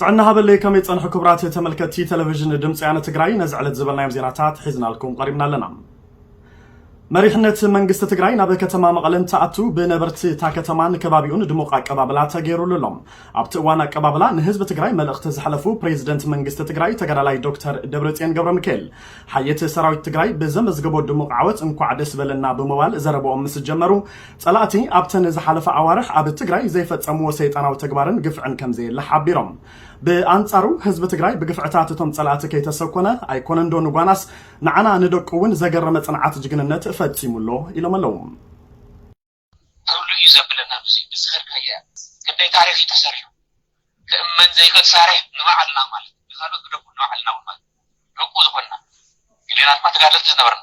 ጥዕና ሃበለይ ከመይ ጸንሑ ክብራት ተመልከቲ ቴሌቪዥን ድምፂ ያነ ትግራይ ነዚ ዕለት ዝበልናዮም ዜናታት ሒዝናልኩም ቀሪብና ኣለና መሪሕነት መንግስቲ ትግራይ ናብ ከተማ መቐለ እንትኣቱ ብነበርቲ እታ ከተማን ከባቢኡን ድሙቕ ኣቀባብላ ተገይሩሉ ኣሎ ኣብቲ እዋን ኣቀባብላ ንህዝቢ ትግራይ መልእኽቲ ዝሓለፉ ፕሬዚደንት መንግስቲ ትግራይ ተጋዳላይ ዶክተር ደብረፅዮን ገብረ ሚካኤል ሓየት ሰራዊት ትግራይ ብዘመዝገቦ ድሙቕ ዓወት እንኳዕ ደስ በለና ብምባል ዘረበኦም ምስ ጀመሩ ፀላእቲ ኣብተን ዝሓለፋ ኣዋርሕ ኣብ ትግራይ ዘይፈፀምዎ ሰይጣናዊ ተግባርን ግፍዕን ከምዘየለ ሓቢሮም። ብኣንፃሩ ህዝቢ ትግራይ ብግፍዕታት እቶም ፀላእቲ ከይተሰኮነ ኣይኮነንዶ ንጓናስ ንዓና ንደቁ እውን ዘገረመ ፅንዓት ጅግንነት ፈፂሙ ኣሎ ኢሎም ኣለው። ተሎ እዩ ዘብለና ብዙይ ብዝኸድካያ ክንደይ ታሪኽ እዩ ተሰሪሑ ክእመን ዘይኽእል ሳሪሕ ንባዕልና ማለት ንኻልኦት ግደፉ ንባዕልና ውን ማለት ደቁ ዝኾንና ገሊኣና ድማ ተጋደልቲ ዝነበርና።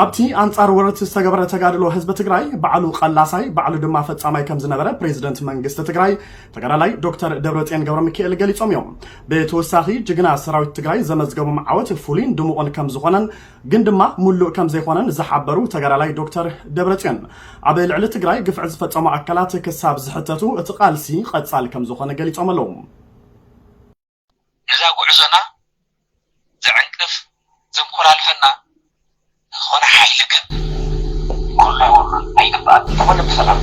ኣብቲ ኣንጻር ወረርቲ ዝተገበረ ተጋድሎ ህዝቢ ትግራይ ባዕሉ ቐላሳይ ባዕሉ ድማ ፈጻማይ ከም ዝነበረ ፕሬዚደንት መንግስቲ ትግራይ ተጋዳላይ ዶክተር ደብረፅዮን ገብረ ሚካኤል ገሊፆም እዮም። ብተወሳኺ ጅግና ሰራዊት ትግራይ ዘመዝገቦም ዓወት ፍሉይን ድሙቕን ከም ዝኾነን ግን ድማ ሙሉእ ከም ዘይኮነን ዝሓበሩ ተጋዳላይ ዶክተር ደብረፅዮን ኣብ ልዕሊ ትግራይ ግፍዒ ዝፈጸሙ ኣካላት ክሳብ ዝሕተቱ እቲ ቃልሲ ቐጻሊ ከም ዝኾነ ገሊፆም ኣለዉ። ነዛ ጉዕዞና ዘዕንቅፍ ዘንኮላልፈና ዝኾነ ሓይሊ ግን ክህሉ የብሉን ኣይግባእን። እንተኾነ ብሰላም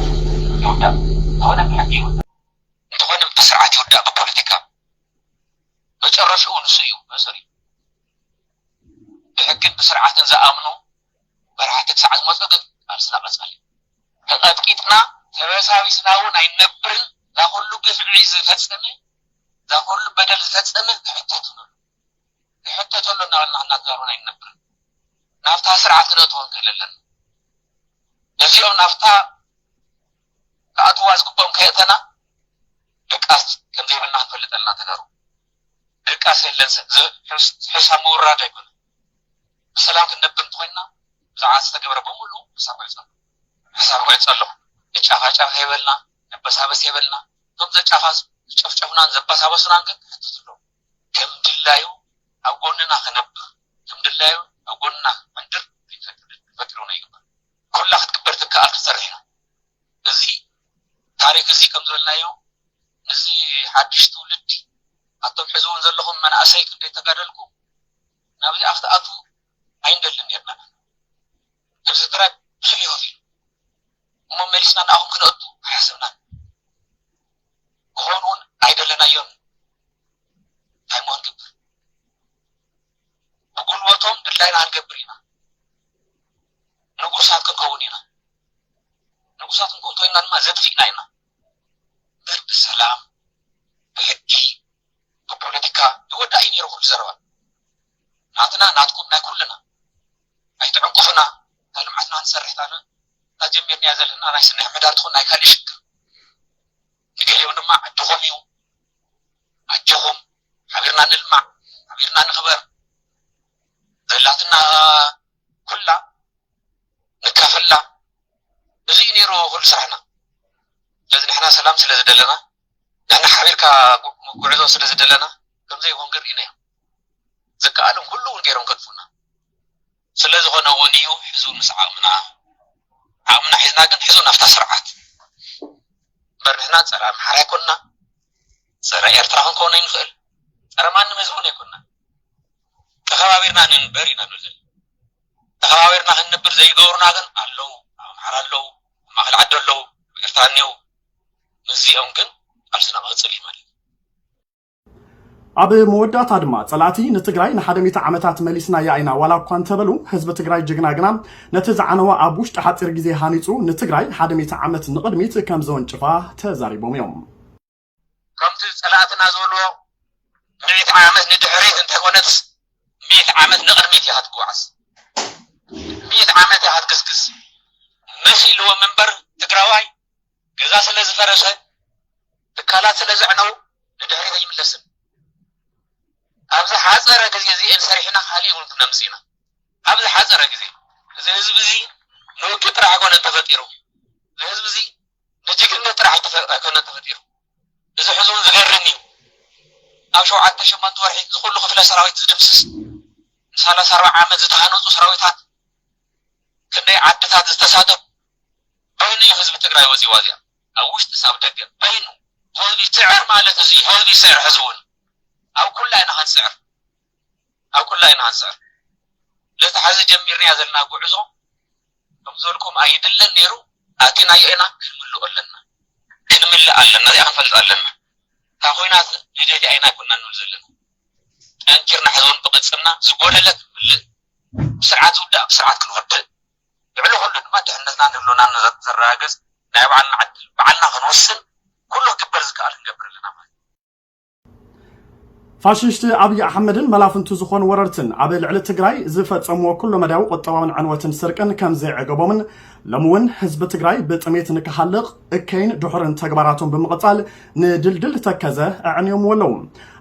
ይውዳእ እንተኾነ ብሕጊ ይውዳእ። እንተኾነ ብስርዓት ይውዳእ ብፖለቲካ መጨረሽኡ ንሱ እዩ መእሰሪኡ። ብሕግን ብስርዓትን ዝኣምኑ መራሕቲ ክሳዕ ዝመፁ ግን ቃልስና ቀፃሊ እዩ። ተቐጥቂጥና ተበሳቢስና እውን ኣይንነብርን። ናኹሉ ግፍዒ ዝፈፀመ እዛ ኩሉ በደል ዝፈጸመ ክሕተትሉ ኣለዎ ንሕተተሉ እናበልና እናተዛረብና ኣይንነብርን ናብታ ስርዓት ክነእትዎ ንክእል ኣለና ነዚኦም ናብታ ክኣትዋ ዝግብኦም ከየእተና ድቃስ ከም ዘይብልና ክንፈልጥ ኣለና ተጋሩ ድቃስ የለን ሕሳብ ምውራድ ኣይኮነ ብሰላም ክንነብር እንተኮይንና ብዛዕባ ዝተገብረ በሙሉ ሕሳብ ክዕፀ ሕሳብ ክዕፀ ኣሎ ንጫፋጫፍ የበልና ንበሳበስ የበልና እቶም ዘጫፋዙ፣ ዝጨፍጨፉናን ዘበሳበሱናን ግን ክሕተቱ ኣለዎም። ከም ድላዩ ኣብ ጎንና ክነብር፣ ከም ድላዩ ኣብ ጎንና ክምንድር ክንፈቅድውን ኣይግባእን። ኩላ ክትግበር ትከኣል ክትሰርሕ ኢና። እዚ ታሪክ እዚ ከም ዝበልናዮ ነዚ ሓድሽ ትውልዲ ኣቶም ሕዚ እውን ዘለኹም መናእሰይ ክንደይ ተጋደልኩም ናብዚኣ ክትኣትዉ ኣይንደልን ኔርና ነብሲ ጥራይ ብዙሕ እዩ ከፊሉ እሞ መሊስና ንኣኹም ክነእቱ ኣይሓሰብናን ክኾኑ ውን ኣይደለናዮን እንታይ እሞ ክንገብር ብጉልበቶም ድላይና ክንገብር ኢና ንጉሳት ክንከውን ኢና ንጉሳት ክንከውን ተኮይንና ድማ ዘጥፊእና ኢና በር ብሰላም ብሕጊ ብፖለቲካ ይወዳእ እዩ ነይሩ ኩሉ ዘረባ ናትና ናትኩም ናይ ኩልና ኣይትዕንቅፉና ናይ ልምዓትና ክንሰርሕ ታና እታ ጀሚርናያ ዘለና ናይ ስነ ሕምሕዳር ትኹን ናይ ካሊእ ሽግር ንገሊኦም ድማ ዕድኹም እዩ ኣጆኹም ሓቢርና ንልማዕ ሓቢርና ንኽበር ዘላትና ኩላ ንካፈላ እዚ እዩ ነይሩ ኩሉ ስራሕና ስለዚ ንሕና ሰላም ስለ ዝደለና ንሕና ሓቢርካ ጉዕዞ ስለ ዝደለና ከምዘይኮን ግን ርኢናዮ። ዝከኣሎም ኩሉ እውን ገይሮም ከጥፉኡና። ስለ ዝኾነ እውን እዩ ሕዚ እውን ምስ ዓቕምና ዓቕምና ሒዝና ግን ሕዚ እውን ኣብታ ስርዓት እምበር ንሕና ፀረ ኣምሓራ ኣይኮንና ፀረ ኤርትራ ክንከውን ኣይንኽእል ፀረ ማንም ህዝቢ እውን ኣይኮንና ተኸባቢርና ንንበር ኢና ንብል ዘለና ተኸባቢርና ክንንብር ዘይገብሩና ግን ኣለዉ ኣብ ኣምሓራ ኣለዉ ኣብ ማእኸል ዓዲ ኣለዉ ኣብ ኤርትራ እኒዉ ምስዚኦም ግን ቃልስና ክቕፅል እዩ ማለት ኣብ መወዳእታ ድማ ፀላእቲ ንትግራይ ንሓደ ሚእቲ ዓመታት መሊስናያ ኢና ዋላ እኳ እንተበሉ ህዝቢ ትግራይ ጅግና ግና ነቲ ዝዓነወ ኣብ ውሽጢ ሓፂር ግዜ ሃኒፁ ንትግራይ ሓደ ሚእቲ ዓመት ንቕድሚት ከም ዘወንጭፋ ተዛሪቦም እዮም። ከምቲ ፀላእትና ዝበልዎ ሚእቲ ዓመት ንድሕሪት እንተይኮነትስ ሚእቲ ዓመት ንቕድሚት ኢኻ ትጓዓዝ፣ ሚእቲ ዓመት ኢኻ ትግስግስ መሲልዎም እምበር ትግራዋይ ገዛ ስለ ዝፈረሰ ትካላት ስለ ዘዕነው ንድሕሪት ኣይምለስን ኣብ ዝሓፀረ ግዜ እዚኤን ሰሪሕና ካሊእ እውን ክነምፅእ ኢና ኣብ ዝሓፀረ ግዜ እዚ ህዝቢ እዚ ንውግእ ጥራሕ ኣይኮነን ተፈጢሩ እዚ ህዝቢ እዚ ንጅግነት ጥራሕ ኣይኮነን ተፈጢሩ እዚ ሕዚ እውን ዝገርም እዩ ኣብ ሸውዓተ ሸሞንተ ወርሒ ዝኩሉ ክፍለ ሰራዊት ዝድምስስ ንሰላሳ ኣርባዓ ዓመት ዝተሃነፁ ሰራዊታት ክንደይ ዓድታት ዝተሳተፉ በይኑ እዩ ህዝቢ ትግራይ ወፂኡ ዋዚኣ ኣብ ውሽጢ ሳብ ደገ በይኑ ህዝቢ ስዕር ማለት እዚ እዩ ህዝቢ ስዕር ሕዚ እውን ኣብ ኩላ ኢና ክንስዕር ኣብ ኩላ ኢና ክንስዕር ለቲ ሕዚ ጀሚርናያ ዘለና ጉዕዞ ከምዘልኩም ኣይድለን ነይሩ ኣቲናዮ ኢና ክንምልኦ ኣለና ክንምልእ ኣለና እዚኣ ክንፈልጥ ኣለና እታ ኮይናት ንደሊ ኣይና ኣይኮና ንብል ዘለና ጠንኪርና ሕዚ እውን ብቅፅልና ዝጎደለ ክንምልእ ብስርዓት ዝውዳእ ብስርዓት ክንወድእ ልዕሊ ኩሉ ድማ ድሕነትናን ህልውናን ዘረጋግፅ ናይ ባዕልና ዕድል ባዕልና ክንውስን ኩሉ ክግበር ዝከኣል ክንገብር ኣለና ማለት እዩ። ፋሽሽቲ ኣብይ ኣሕመድን መላፍንቱ ዝኾኑ ወረርትን ኣብ ልዕሊ ትግራይ ዝፈፀምዎ ኩለመዳያዊ ቁጠባውን ዕንወትን ስርቅን ከምዘይዐገቦምን ሎሚ እውን ህዝቢ ትግራይ ብጥሜት ንክሃልቕ እከይን ድሑርን ተግባራቶም ብምቕፃል ንድልድል ተከዘ ኣዕንዮምዎ ኣለው።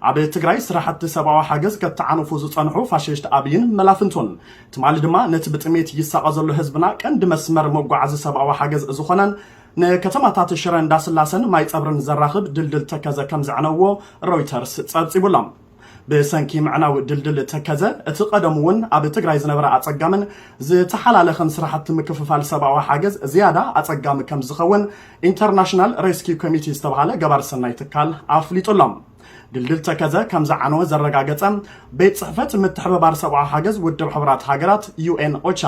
ኣብ ትግራይ ስራሕቲ ሰብኣዊ ሓገዝ ከተዓንፉ ዝፀንሑ ፋሽሽት ኣብይን መላፍንቱን ትማሊ ድማ ነቲ ብጥሜት ይሳቐ ዘሎ ህዝብና ቀንዲ መስመር መጓዓዚ ሰብኣዊ ሓገዝ ዝኾነን ንከተማታት ሽረ እንዳስላሰን ማይፀብርን ዘራኽብ ድልድል ተከዘ ከምዘዕነውዎ ሮይተርስ ፀብፂቡ ኣሎ። ብሰንኪ ምዕናው ድልድል ተከዘ እቲ ቀደሙ እውን ኣብ ትግራይ ዝነበረ ኣፀጋምን ዝተሓላለኸን ስራሕቲ ምክፍፋል ሰብኣዊ ሓገዝ ዝያዳ ኣፀጋሚ ከምዝኸውን ኢንተርናሽናል ሬስኪው ኮሚቲ ዝተብሃለ ገባሪ ሰናይ ትካል ኣፍሊጡ ኣሎ። ድልድል ተከዘ ከምዝዓነወ ዘረጋገፀ ቤት ፅሕፈት ምትሕብባር ሰብኣዊ ሓገዝ ውድብ ሕቡራት ሃገራት ዩኤን ኦቻ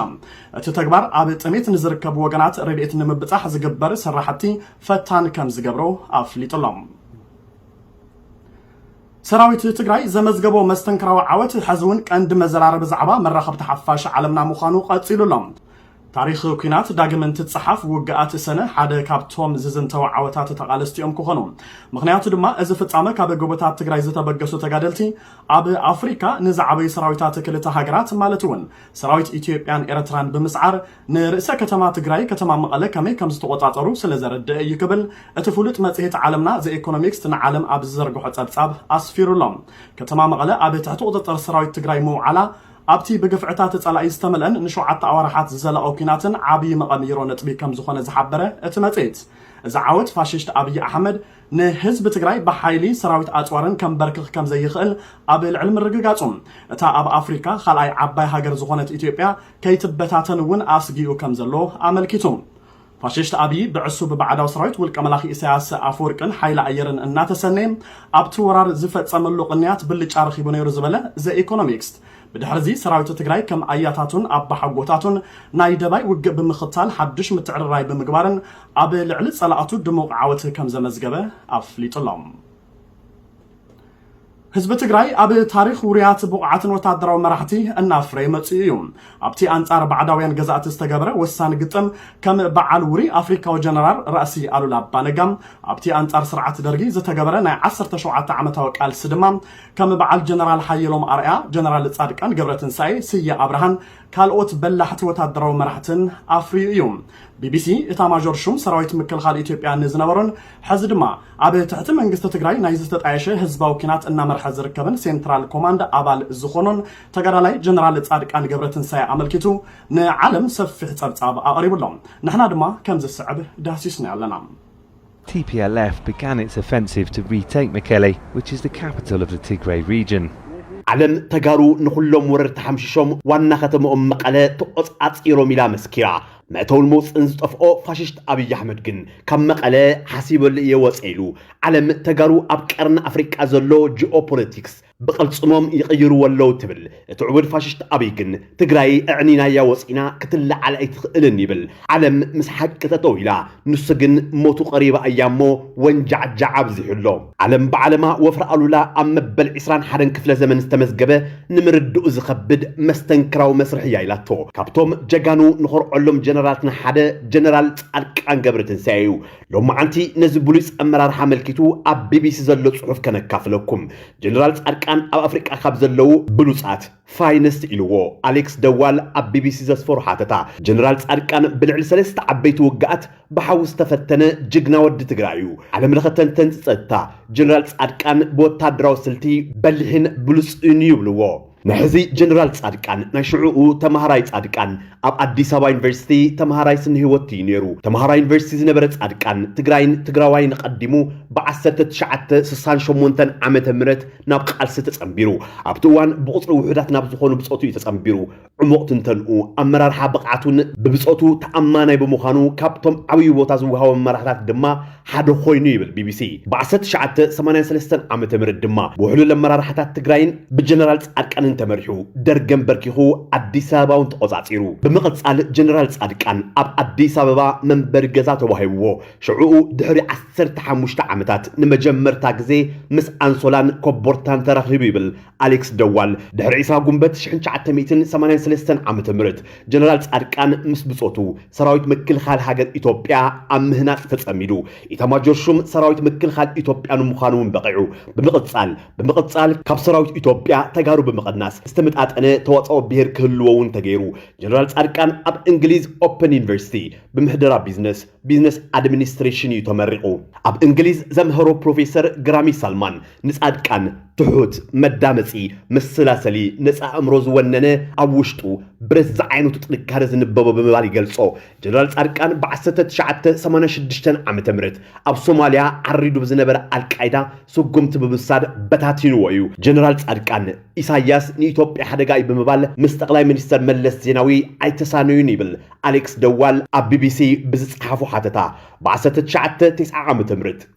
እቲ ተግባር ኣብ ጥሜት ንዝርከቡ ወገናት ረድኤት ንምብፃሕ ዝግበር ስራሕቲ ፈታን ከምዝገብሮ ኣፍሊጡ ኣሎ። ሰራዊት ትግራይ ዘመዝገቦ መስተንክራዊ ዓወት ሕዚ እውን ቀንዲ መዘራረቢ ዛዕባ መራኸብቲ ሓፋሽ ዓለምና ምዃኑ ቀፂሉ ኣሎ። ታሪኽ ኩናት ዳግም እንትጸሓፍ ውግኣት ሰነ ሓደ ካብቶም ዝዝንተው ዓወታት ተቓለስቲ'ዮም ክኾኑ። ምኽንያቱ ድማ እዚ ፍጻመ ካብ ጎቦታት ትግራይ ዝተበገሱ ተጋደልቲ ኣብ ኣፍሪካ ንዝዓበዩ ሰራዊታት ክልተ ሃገራት ማለት'ውን ሰራዊት ኢትዮጵያን ኤርትራን ብምስዓር ንርእሰ ከተማ ትግራይ ከተማ መቐለ ከመይ ከምዝተቖጻጸሩ ስለዘረድእ እዩ ክብል እቲ ፍሉጥ መጽሔት ዓለምና ዘ ኢኮኖሚክስት ንዓለም ኣብ ዝዘርግሖ ጸብጻብ ኣስፊሩ'ሎ። ከተማ መቐለ ኣብ ትሕቲ ቁጽጽር ሰራዊት ትግራይ ምውዓላ ኣብቲ ብግፍዕታት ጸላኢ ዝተመልአን ንሸውዓተ ኣዋርሓት ዝዘለቐ ኲናትን ዓብዪ መቐምይሮ ነጥቢ ከም ዝኾነ ዝሓበረ እቲ መጽሔት፣ እዚ ዓወት ፋሽስት ኣብይ ኣሕመድ ንህዝቢ ትግራይ ብሓይሊ ሰራዊት ኣጽዋርን ከምበርክኽ ከም ዘይኽእል ኣብ ልዕሊ ምርግጋጹ፣ እታ ኣብ ኣፍሪካ ኻልኣይ ዓባይ ሃገር ዝኾነት ኢትዮጵያ ከይትበታተን እውን ኣስጊኡ ከም ዘሎ ኣመልኪቱ። ፋሽስት ኣብዪ ብዕሱብ ባዕዳዊ ሰራዊት ውልቀ መላኺ ኢሳያስ ኣፈወርቅን ሓይሊ ኣየርን እናተሰነየ ኣብቲ ወራር ዝፈጸመሉ ቅንያት ብልጫ ረኺቡ ነይሩ ዝበለ ዘኢኮኖሚክስት ብድሕሪ'ዚ ሰራዊት ትግራይ ከም ኣያታቱን ኣባሓጎታቱን ናይ ደባይ ውግእ ብምኽታል ሓዱሽ ምትዕርራይ ብምግባርን ኣብ ልዕሊ ጸላእቱ ድሙቕ ዓወት ከምዘመዝገበ ኣፍሊጡ'ሎ። ህዝቢ ትግራይ ኣብ ታሪኽ ውሩያት ብቑዓትን ወታደራዊ መራሕቲ እናፍረየ መፂኡ እዩ። ኣብቲ ኣንፃር ባዕዳውያን ገዛእቲ ዝተገበረ ወሳኒ ግጥም ከም በዓል ውሩይ ኣፍሪካዊ ጀነራል ራእሲ ኣሉላ ኣባ ነጋ፣ ኣብቲ ኣንፃር ስርዓት ደርጊ ዝተገበረ ናይ ዓሰርተ ሸውዓተ ዓመታዊ ቃልሲ ድማ ከም በዓል ጀነራል ሓየሎም ኣርኣያ፣ ጀነራል ፃድቃን ገብረትንሳኤ፣ ስየ ኣብርሃን ካልኦት በላሕቲ ወታደራዊ መራሕትን ኣፍርዩ እዩ። ቢቢሲ፣ ኢታማዦር ሹም ሰራዊት ምክልኻል ኢትዮጵያ ንዝነበሩን ሕዚ ድማ ኣብ ትሕቲ መንግስቲ ትግራይ ናይ ዝተጣየሸ ህዝባዊ ኲናት እናመርሐ ዝርከብን ሴንትራል ኮማንድ ኣባል ዝኾኖን ተጋዳላይ ጀነራል ፃድቃን ገብረትንሳኤ ኣመልኪቱ ንዓለም ሰፊሕ ፀብፃብ ኣቕሪቡ ኣሎ። ንሕና ድማ ከም ዝስዕብ ዳህሲስናዮ ኣለና። TPLF began its offensive to retake Mekelle, which is the capital of the Tigray region. ዓለም ተጋሩ ንኹሎም ወረርቲ ሓምሺሾም ዋና ከተመኦም መቐለ ተቖፃፂሮም ኢላ መስኪራ። መእተውን መውፅእን ዝጠፍኦ ፋሽስት ኣብይ ኣሕመድ ግን ካብ መቐለ ሓሲበሉ እየ ወፀ ኢሉ ዓለም ተጋሩ ኣብ ቀርኒ ኣፍሪቃ ዘሎ ጂኦፖለቲክስ ብቕልፅሞም ይቕይርዎ ኣለዉ ትብል እቲ ዕቡድ ፋሽስት ኣብይ ግን ትግራይ እዕኒናያ ወፂና ክትለዓል ኣይትኽእልን ይብል ዓለም ምስ ሓቂ ጠጠው ኢላ ንሱ ግን ሞቱ ቀሪባ እያ እሞ ወንጃዕጃዕ ኣብዚሑ ኣሎ። ዓለም ብዓለማ ወፍሪ ኣሉላ ኣብ መበል ዕስራን ሓደን ክፍለ ዘመን ዝተመዝገበ ንምርድኡ ዝኸብድ መስተንክራዊ መስርሕ እያ ኢላቶ። ካብቶም ጀጋኑ ንኾርዖሎም ጀነራላትና ሓደ ጀነራል ጻድቃን ገብረትንሳኤ እዩ። ሎማዓንቲ ነዚ ብሉጽ ኣመራርሓ ኣመልኪቱ ኣብ ቢቢሲ ዘሎ ጽሑፍ ከነካፍለኩም። ጀነራል ጻድቃን ኣብ ኣፍሪቃ ካብ ዘለዉ ብሉጻት ፋይንስት ኢልዎ። ኣሌክስ ደዋል ኣብ ቢቢሲ ዘስፈሮ ሓተታ፣ ጀነራል ጻድቃን ብልዕሊ ሰለስተ ዓበይቲ ውግኣት ብሓዊ ዝተፈተነ ጅግና ወዲ ትግራይ እዩ። ዓለምለኸ ተንተንቲ ጸጥታ፣ ጀነራል ጻድቃን ብወታደራዊ ስልቲ በሊሕን ብሉጽን እዩ ይብልዎ። መሐዚ ጀነራል ጻድቃን፣ ናይ ሽዑኡ ተማሃራይ ጻድቃን ኣብ ኣዲስ ኣበባ ዩኒቨርሲቲ ተማሃራይ ስነህይወት እዩ ነይሩ። ተማሃራይ ዩኒቨርሲቲ ዝነበረ ጻድቃን፣ ትግራይን ትግራዋይን ኣቐዲሙ ብ ዓሰርተ ትሽዓተ ስሳን ሸሞንተን ዓመተ ምህረት፣ ናብ ቃልሲ ተጸንቢሩ ኣብቲ እዋን ብቑጽሪ ውሑዳት ናብ ዝኾኑ ብጾቱ እዩ ተጸንቢሩ። ዕሙቕ ትንተንኡ፣ ኣመራርሓ ብቕዓቱን ብብጾቱ ተኣማናይ ብምዃኑ ካብቶም ዓብዩ ቦታ ዝወሃቦም መራሕታት ድማ ሓደ ኮይኑ ይብል ቢቢሲ። ብዓሰርተ ትሽዓተ ሰማንያን ሰለስተን ዓመተ ምህረት ድማ ብውሕሉል ኣመራርሓታት ትግራይን ብጀነራል ጻድቃንን ተመሪሑ ደርግ ኣንበርኪኹ ኣዲስ ኣበባ እውን ተቖጻጺሩ። ብምቕጻል ጀነራል ጻድቃን ኣብ ኣዲስ ኣበባ መንበሪ ገዛ ተዋሂብዎ ሽዑኡ ድሕሪ ዓሰርተ ሓሙሽተ ዓመታት ንመጀመርታ ግዜ ምስ ኣንሶላን ኮቦርታን ተራኺቡ ይብል ኣሌክስ ደዋል። ድሕሪ ዕስራ ጉንበት ሽሕን ትሽዓተ ሚእትን ሰማንያን ሰለስተን ዓመተ ምህረት ጀነራል ጻድቃን ምስ ብጾቱ ሰራዊት ምክልኻል ሃገር ኢትዮጵያ ኣብ ምህናጽ ተጸሚዱ ኢታማጆር ሹም ሰራዊት ምክልኻል ኢትዮጵያ ንምዃኑ እውን በቒዑ። ብምቕጻል ብምቕጻል ካብ ሰራዊት ኢትዮጵያ ተጋሩ ብምቕናስ ዝተመጣጠነ ተዋጽኦ ብሄር ክህልዎ እውን ተገይሩ። ጀነራል ጻድቃን ኣብ እንግሊዝ ኦፐን ዩኒቨርሲቲ ብምሕደራ ቢዝነስ ቢዝነስ ኣድሚኒስትሬሽን እዩ ተመሪቑ። ኣብ እንግሊዝ ዘምሀሮ ፕሮፌሰር ግራሚ ሳልማን ንጻድቃን ትሑት፣ መዳመጺ፣ መሰላሰሊ፣ ነጻ ኣእምሮ ዝወነነ ኣብ ውሽጡ ብረት ዝዓይነቱ ጥንካረ ዝንበቦ ብምባል ይገልጾ። ጀነራል ጻድቃን ብ ዓሰርተ ትሽዓተ ሰማንያ ሽዱሽተ ዓመተ ምህረት ኣብ ሶማልያ ዓሪዱ ብዝነበረ ኣልቃይዳ ስጉምቲ ብምውሳድ በታቲንዎ እዩ። ጀነራል ጻድቃን ኢሳያስ ንኢትዮጵያ ሓደጋ እዩ ብምባል ምስ ጠቕላይ ሚኒስተር መለስ ዜናዊ ኣይተሳነዩን ይብል ኣሌክስ ደዋል ኣብ ቢቢሲ ብዝጸሓፎ ሓተታ ብ1990 ዓ ም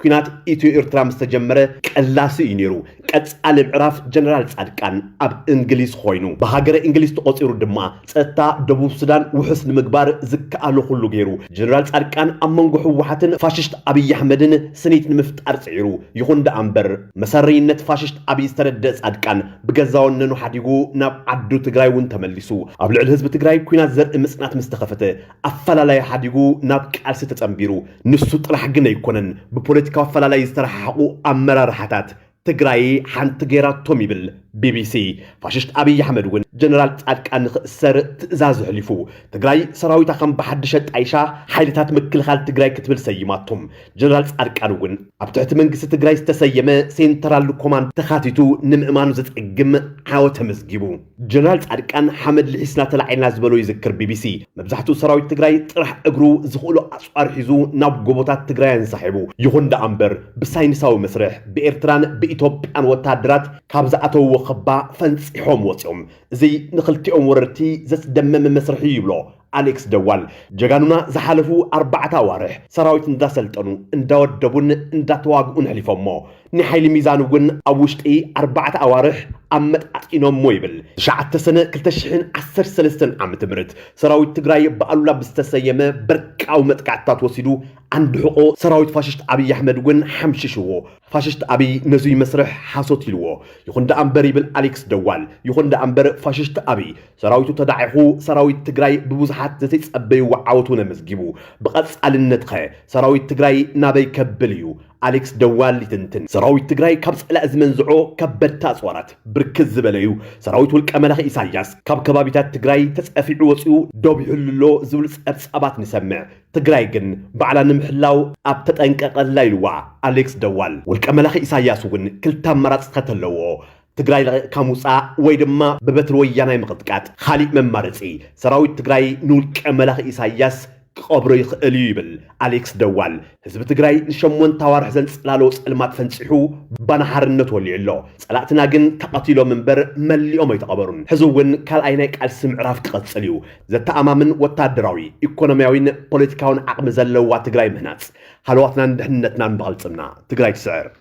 ኩናት ኢትዮ ኤርትራ ምስ ተጀመረ ቀላሲ እዩ ነይሩ ቀጻሊ ምዕራፍ ጀነራል ጻድቃን ኣብ እንግሊዝ ኮይኑ ብሃገረ እንግሊዝ ተቖጺሩ ድማ ፀጥታ ደቡብ ሱዳን ውሑስ ንምግባር ዝከኣሎ ኩሉ ገይሩ። ጀነራል ፃድቃን ኣብ መንጎ ህወሓትን ፋሽስት ኣብይ ኣሕመድን ስኒት ንምፍጣር ፅዒሩ። ይኹን ደኣ እምበር መሰረይነት ፋሽስት ኣብይ ዝተረደእ ፃድቃን ብገዛ ወነኑ ሓዲጉ ናብ ዓዱ ትግራይ እውን ተመሊሱ። ኣብ ልዕሊ ህዝቢ ትግራይ ኩናት ዘርኢ ምፅናት ምስ ተኸፈተ ኣፈላላይ ሓዲጉ ናብ ቃልሲ ተፀምቢሩ። ንሱ ጥራሕ ግን ኣይኮነን ብፖለቲካዊ ኣፈላላይ ዝተረሓሓቑ ኣመራርሓታት ትግራይ ሓንቲ ገይራቶም ይብል ቢቢሲ። ፋሽስት ኣብይ ኣሕመድ እውን ጀነራል ፃድቃን ንክእሰር ትእዛዝ ኣሕሊፉ። ትግራይ ሰራዊታ ከም ብሓድሽ ኣጣይሻ ሓይልታት ምክልኻል ትግራይ ክትብል ሰይማቶ። ጀነራል ፃድቃን እውን ኣብ ትሕቲ መንግስቲ ትግራይ ዝተሰየመ ሴንተራል ኮማንድ ተኻቲቱ ንምእማኑ ዘፀግም ዓወት ተመዝጊቡ። ጀነራል ፃድቃን ሓመድ ልሒስና ተላዒልና ዝበሎ ይዝክር ቢቢሲ። መብዛሕትኡ ሰራዊት ትግራይ ጥራሕ እግሩ ዝኽእሎ ኣፅዋር ሒዙ ናብ ጎቦታት ትግራይ ኣንሳሒቡ። ይኹን ደኣ እምበር ብሳይንሳዊ መስርሕ ብኤርትራን ብኢትዮጵያን ወታሃደራት ካብ ዝኣተውዎ ኸባ ፈንፂሖም ወፂኦም። እዙይ ንኽልቲኦም ወረርቲ ዘፅደመመ መስርሕ እዩ ይብሎ ኣሌክስ ደዋል ጀጋኑና ዝሓለፉ ኣርባዕተ ኣዋርሕ ሰራዊት እንዳሰልጠኑ እንዳወደቡን እንዳተዋግኡን ኣሕሊፎሞ ናይ ሓይሊ ሚዛን እውን ኣብ ውሽጢ ኣርባዕተ ኣዋርሕ ኣመጣጢኖሞ ይብል ትሽዓተ ሰነ ክልተ ሽሕን ዓሰርተ ሰለስተን ዓመተ ምህረት ሰራዊት ትግራይ ብኣሉላ ብዝተሰየመ በርቃዊ መጥቃዕትታት ወሲዱ ኣንድሕቆ ሰራዊት ፋሽስት ኣብይ ኣሕመድ እውን ሓምሽሽዎ ፋሽስት ኣብይ ነዙይ መስርሕ ሓሶት ኢልዎ ይኹን ደኣ እምበር ይብል ኣሌክስ ደዋል ይኹን ደኣ እምበር ፋሽስት ኣብይ ሰራዊቱ ተዳዒኹ ሰራዊት ትግራይ ብብዙሓት ዘተይጸበይዎ ዓወት እውን ኣመዝጊቡ። ብቐጻልነት ኸ ሰራዊት ትግራይ ናበይ ከብል እዩ? ኣሌክስ ደዋል ይትንትን። ሰራዊት ትግራይ ካብ ጸላኢ ዝመንዝዖ ከበድቲ ኣጽዋራት ብርክት ዝበለ እዩ። ሰራዊት ውልቀ መላኺ ኢሳይያስ ካብ ከባቢታት ትግራይ ተጸፊዑ ወጺኡ ዶብ ይሕሉ ኣሎ ዝብሉ ጸብጻባት ንሰምዕ። ትግራይ ግን ባዕላ ንምሕላው ኣብ ተጠንቀቕ ኣላ ኢልዋ ኣሌክስ ደዋል። ውልቀ መላኺ ኢሳይያስ እውን ክልተ ኣማራጺታት ኣለዎ። ትግራይ ለቒቕካ ምውፃእ ወይ ድማ ብበትሪ ወያናይ ምቕጥቃጥ ኻሊእ መማረፂ ሰራዊት ትግራይ ንውልቀ መላኺ ኢሳያስ ክቐብሮ ይኽእል እዩ ይብል ኣሌክስ ደዋል። ህዝቢ ትግራይ ንሸሞንተ ኣዋርሕ ዘንፀላለዎ ፀልማት ፈንፂሑ ባና ሓርነት ወሊዑ ኣሎ። ፀላእትና ግን ተቐቲሎም እምበር መሊኦም ኣይተቐበሩን። ሕዚ እውን ካልኣይ ናይ ቃልሲ ምዕራፍ ክቐፅል እዩ። ዘተኣማምን ወታደራዊ፣ ኢኮኖሚያዊን ፖለቲካዊን ዓቕሚ ዘለዋ ትግራይ ምህናፅ ሃለዋትናን ድሕንነትናን ብቕልፅምና ትግራይ ትስዕር።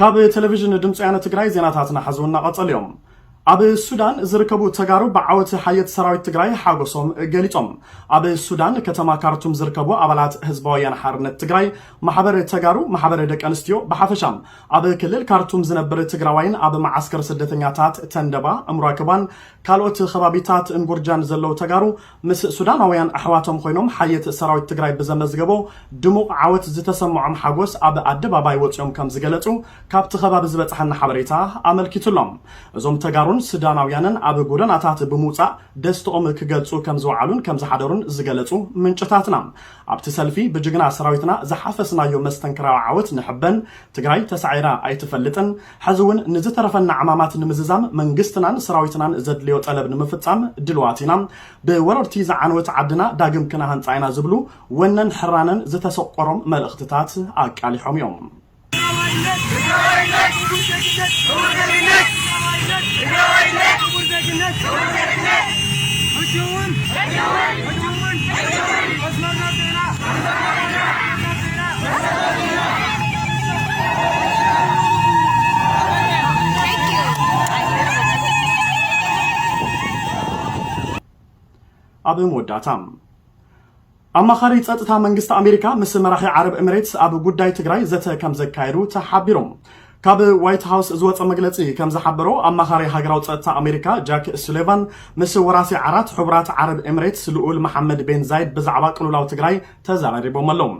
ካብ ቴሌቪዥን ድምፂ ወያነ ትግራይ ዜናታትና ሐዚ እናቐፀሉ እዮም። ኣብ ሱዳን ዝርከቡ ተጋሩ ብዓወት ሓየት ሰራዊት ትግራይ ሓጎሶም ገሊፆም። ኣብ ሱዳን ከተማ ካርቱም ዝርከቡ ኣባላት ህዝባዊ ወያነ ሓርነት ትግራይ፣ ማሕበር ተጋሩ፣ ማሕበር ደቂ ኣንስትዮ ብሓፈሻ ኣብ ክልል ካርቱም ዝነብር ትግራዋይን ኣብ መዓስከር ስደተኛታት ተንደባ፣ እምሯክባን ካልኦት ከባቢታት እንጉርጃን ዘለዉ ተጋሩ ምስ ሱዳናውያን ኣሕዋቶም ኮይኖም ሓየት ሰራዊት ትግራይ ብዘመዝገቦ ድሙቕ ዓወት ዝተሰመዖም ሓጎስ ኣብ ኣደባባይ ወፂኦም ከምዝገለፁ ካብቲ ከባቢ ዝበፀሓና ሓበሬታ ኣመልኪቱ ኣሎ። እዞም ተጋሩን ስዳናውያንን ኣብ ጎደናታት ብምውፃእ ደስተኦም ክገልፁ ከምዝወዓሉን ከምዝሓደሩን ዝገለፁ ምንጭታትና ኣብቲ ሰልፊ ብጅግና ሰራዊትና ዝሓፈስናዮ መስተንክራዊ ዓወት ንሕበን ትግራይ ተሳዒራ ኣይትፈልጥን ሐዚ እውን ንዝተረፈና ዕማማት ንምዝዛም መንግስትናን ሰራዊትናን ዘድልዮ ጠለብ ንምፍፃም ድልዋት ኢና። ብወረርቲ ዝዓነወት ዓድና ዳግም ክነሃንፃ ኢና ዝብሉ ወነን ሕራነን ዝተሰቆሮም መልእኽትታት ኣቃሊሖም እዮም። ትግራዋይነት ትግራዋይነት ክቡር ዜግነት ክቡር ዜግነት ትግራዋይነት ትግራዋይነት ክቡር ዜግነት ክቡር ዜግነት ሕጂ እውን ሕጂ እውን ሕጂ እውን ሕጂ እውን መስመርና ስዒና መስመርና ስዒና ኣብ መወዳእታ ኣማኻሪ ጸጥታ መንግስቲ ኣሜሪካ ምስ መራሒ ዓረብ ኤምሬትስ ኣብ ጉዳይ ትግራይ ዘተ ከም ዘካየዱ ተሓቢሮም ካብ ዋይት ሃውስ ዝወጸ መግለጺ ከም ዝሓበሮ፣ ኣማኻሪ ሃገራዊ ጸጥታ ኣሜሪካ ጃክ ሱሌቫን ምስ ወራሲ ዓራት ሕቡራት ዓረብ ኤምሬትስ ልኡል መሓመድ ቤን ዛይድ ብዛዕባ ቅልውላው ትግራይ ተዘራሪቦም ኣለው።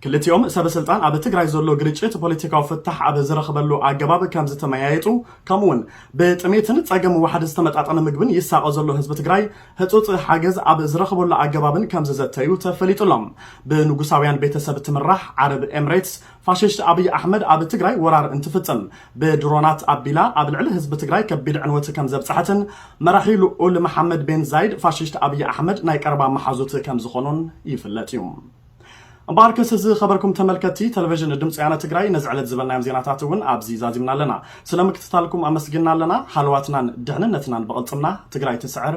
ክልቲኦም ሰበ ስልጣን ኣብ ትግራይ ዘሎ ግርጭት ፖለቲካዊ ፍታሕ ኣብ ዝረኽበሉ ኣገባብ ከም ዝተመያየጡ ከምኡ'ውን ብጥሜትን ጸገም ዋሕዲ ዝተመጣጠነ ምግብን ይሳቐ ዘሎ ህዝቢ ትግራይ ህጹጽ ሓገዝ ኣብ ዝረኽበሉ ኣገባብን ከም ዝዘተዩ ተፈሊጡ'ሎ። ብንጉሳውያን ቤተሰብ እትምራሕ ዓረብ ኤምሬትስ ፋሽስት ኣብይ ኣሕመድ ኣብ ትግራይ ወራር እንትፍፅም ብድሮናት ኣቢላ ኣብ ልዕሊ ህዝቢ ትግራይ ከቢድ ዕንወት ከምዘብፀሐትን መራሒ ልኡል መሓመድ ቤን ዛይድ ፋሽስት ኣብይ ኣሕመድ ናይ ቀረባ መሓዙት ከምዝኾኑን ይፍለጥ እዩ። እምበኣርከስ ዝኸበርኩም ተመልከትቲ ተለቨዥን ድምፂ ወያነ ትግራይ ነዚ ዕለት ዝበልናዮም ዜናታት እውን ኣብዚ ዛዚምና ኣለና። ስለምክትታልኩም ኣመስጊንና ኣለና። ሃለዋትናን ድሕንነትናን ብቕልፅምና! ትግራይ ትስዕር!